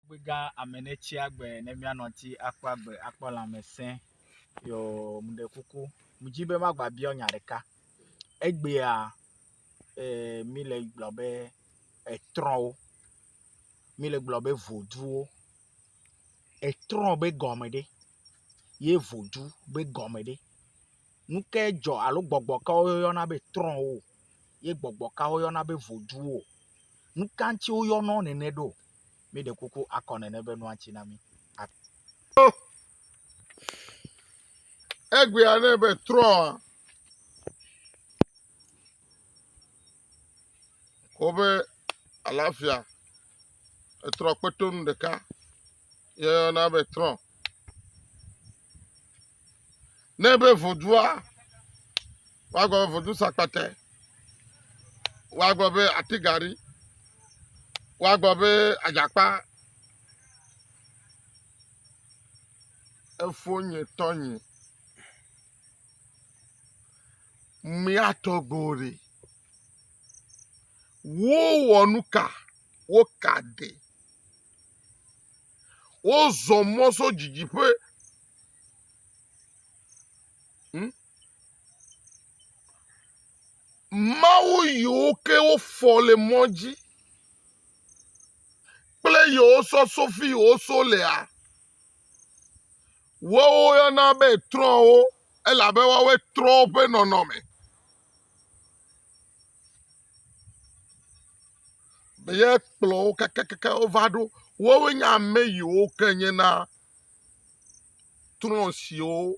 Ŋugbegã ame ne tsi agbe ne míanɔ ŋuti akpɔ agbe akpɔ lãmesẽ yɔ meɖe kuku medzi be magbabiɔ nya ɖeka. Egbea e mi le gblɔ be etrɔwo mi le gblɔ be voduwo. Etrɔ be gɔme ɖe ye vodu be gɔme ɖe. Nu ke dzɔ alo gbɔgbɔ ka woyɔna be trɔwo ye gbɔgbɔ ka woyɔna be voduwo. Nu ka ŋuti woyɔna wo nene ɖo? Mi ɖe kuku akɔ nene be nua tsi na mi. Egbea ne be trɔ wobe alafia etrɔ kpetonu ɖeka. yeyɔna be trɔ̃. Ne be vodua, woagblɔ be vodu sakpate, woagblɔ be atigari, woagblɔ be adzakpa, efo nye tɔ nye. Mía tɔgbo ɖe. Wowɔ nu ka? Woka ɖe. Wozɔ mɔ so didiƒe. Hm? Mawu yiwo ke wofɔ le mɔ dzi kple yewo sɔ sofi yiwo so lea, woawo yɔna be trɔ̃wo elabe woawoe trɔ woƒe nɔnɔme. be yekplɔ wo kakakaka wova ɖo. Woawoe nye ame yiwo ke nye na trɔ̃ siwo,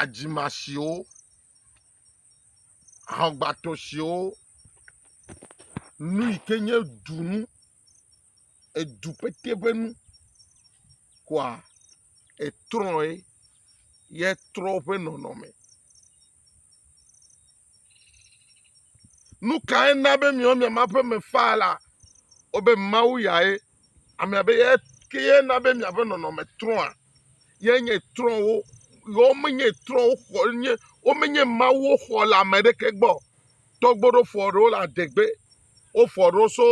adzima siwo, aŋgbatɔ siwo, nu yi ke nye dunu. edu pɛtɛ ƒe nu koa etrɔe ye etrɔ woƒe nɔnɔme. Nu kae na be miawo miama ƒe me faa la? Wobe Mawu yae ame abe ye kee na be miaƒe nɔnɔme trɔa? Ye nye trɔ wo. Yewo menye trɔ wo xɔ nye womenye Mawu woxɔ le ame aɖeke gbɔ o. Tɔgbuiɖofo aɖewo le adegbe. wofɔ ɖo tso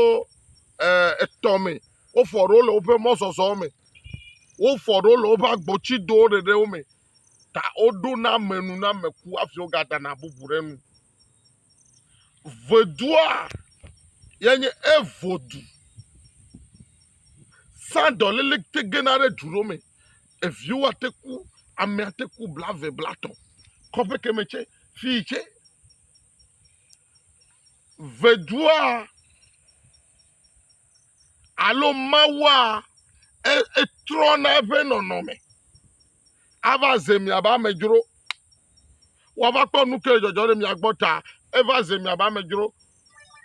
etɔ me, wofɔ ɖo le woƒe mɔzɔzɔ me, wofɔ ɖo le woƒe agbotsido ɖeɖewo me ta woɖo na ame nu na ame ku hafi wogadana bubu ɖe enu. Vodua ye nye evodu. Sandɔlili te gena ɖe du ɖewo me. Eviwo ate ku, ame ate ku blave, blatɔ̃. Kɔƒe keme tsɛ, fii tsɛ. vedua alo mawua e- etrɔna eƒe nɔnɔme ava ze miabe amedzro woava kpɔ nu ke le dzɔdzɔ ɖe mia gbɔ ta eva ze miabe amedzro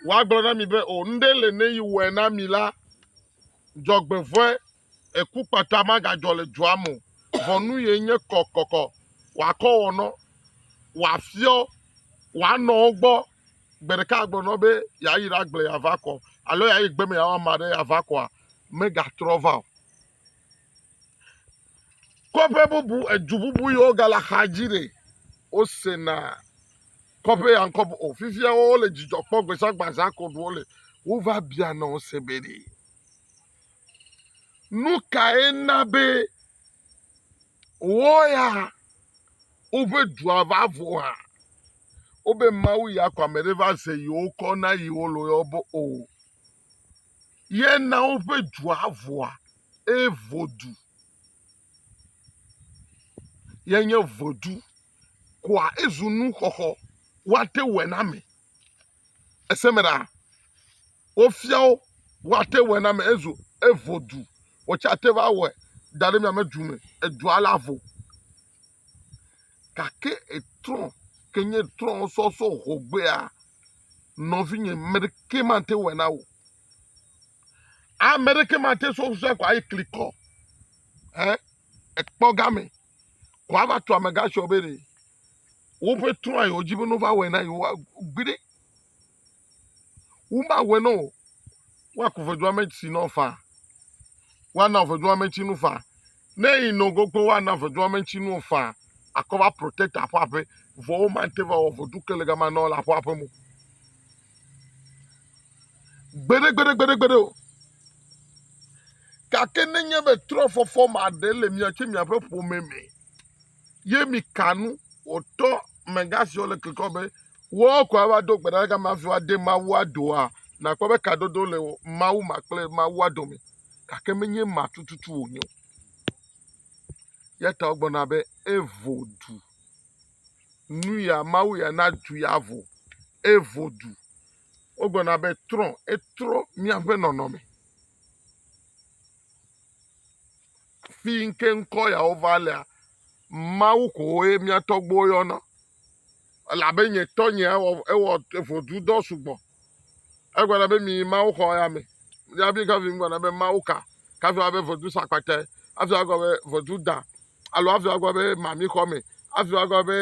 woagblɔ na mi be o nuɖe le ne yi wɔe na mi la dzɔgbevɔe Ekukpata magadzɔ le dua me o, vɔ nu ye nye kɔkɔkɔ, wòakɔ wɔ nɔ, wòafiɔ wòanɔwo gbɔ. Gbe ɖeka agblɔ nɔ be yeayi ɖagblẽ yeava kɔ alo yeayi gbe me yeawɔ ame aɖe yeava kɔa, megatrɔ va o. Kɔƒe bubu, edu bubu yiwo gale axadzi ɖe, wosena kɔƒe ya ŋkɔ be o. Fifia wole dzidzɔ kpɔm gbe sia gbe azã koɖu wole. Wova biana wo se be ɖe Nu kae na be wo ya woƒe dua va vo hã? Wobe Mawu ya ko ame ɖe va ze yewo kɔ na yewo le woyɔ be o. Ye na woƒe dua voa eye vodu ye nye vodu koa ezu nuxɔxɔ woate wɔ na ame. ese me ɖa. Wofia wo woate wɔe na me ezu evo du. Wotse ate va wɔe da ɖe miame du me. Edua la vo. Gake etrɔ ke nye trɔ sɔsɔ hogbea nɔvinye me ɖeke mate wɔe na wo. Ame ɖeke mate sɔ sɔe ko ayi klikɔ. Ɛ ekpɔ game. ko ava tu amegã tsɔ be ɖe woƒe trɔa yewo dzi be no va wɔe na yewo gbi ɖe woma wɔe no woaku ʋedua me tsi nɔ fa woana ʋedua me tsi nu fa ne yi nɔ gogo woana ʋedua me tsi nu fa akɔ va protect aƒe aƒe vɔ woma te va wɔ ʋedu ke le gama nɔ le aƒe aƒe mo gbeɖegbeɖegbeɖegbeɖe o gake nenye be trɔfɔfɔ ma ɖe le mia tso miaƒe ƒome me ye mi ka nu wòtɔ mega siwo le klikɔ be woawo ko ava do gbe ɖa gama hafi woade mawua doa nakpɔ be kadodo le mawu ma kple mawua dome gake menye ma tututu wònye o ya ta wogblɔna be evo du nu ya Mawu ya na du ya vo, evo du. Wogblɔna be trɔ, etrɔ míaƒe nɔnɔme. Fi ke ŋkɔ yawo va lea, Mawu ko ye mía tɔgbuiwo yɔna. Elabe nye tɔnye ewɔ, ewɔ evodudɔ sugbɔ. Egblɔna be mi Mawu xɔ ya me. Ya bi ka vi gblɔna be Mawu ka. kafi woava be ʋedu sakpatɛ, hafi woagblɔ be ʋedu da alo hafi woagblɔ be mamixɔme, hafi woagblɔ be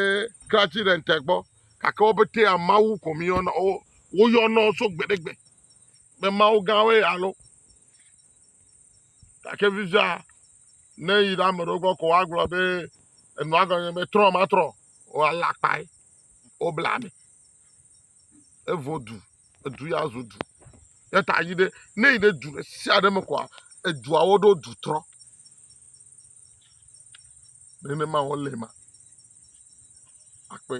kratsi ɖe ŋte gbɔ. Gake wo ƒetea Mawu ko míyɔna, wo, woyɔna wo tso gbe ɖe gbe be Mawu gãwoe ya lo. Gake fifia, ne yi ɖe ame ɖewo gbɔ ko woagblɔ be enua gɔme be trɔ matrɔ, woalé akpae, wobla ame, evo du. edu ya zu du. Eya ta yi ɖe ne yi ɖe du ɖe sia ɖe me kɔa eduawo ɖo du trɔ. Nenema wo le ma akpɔe.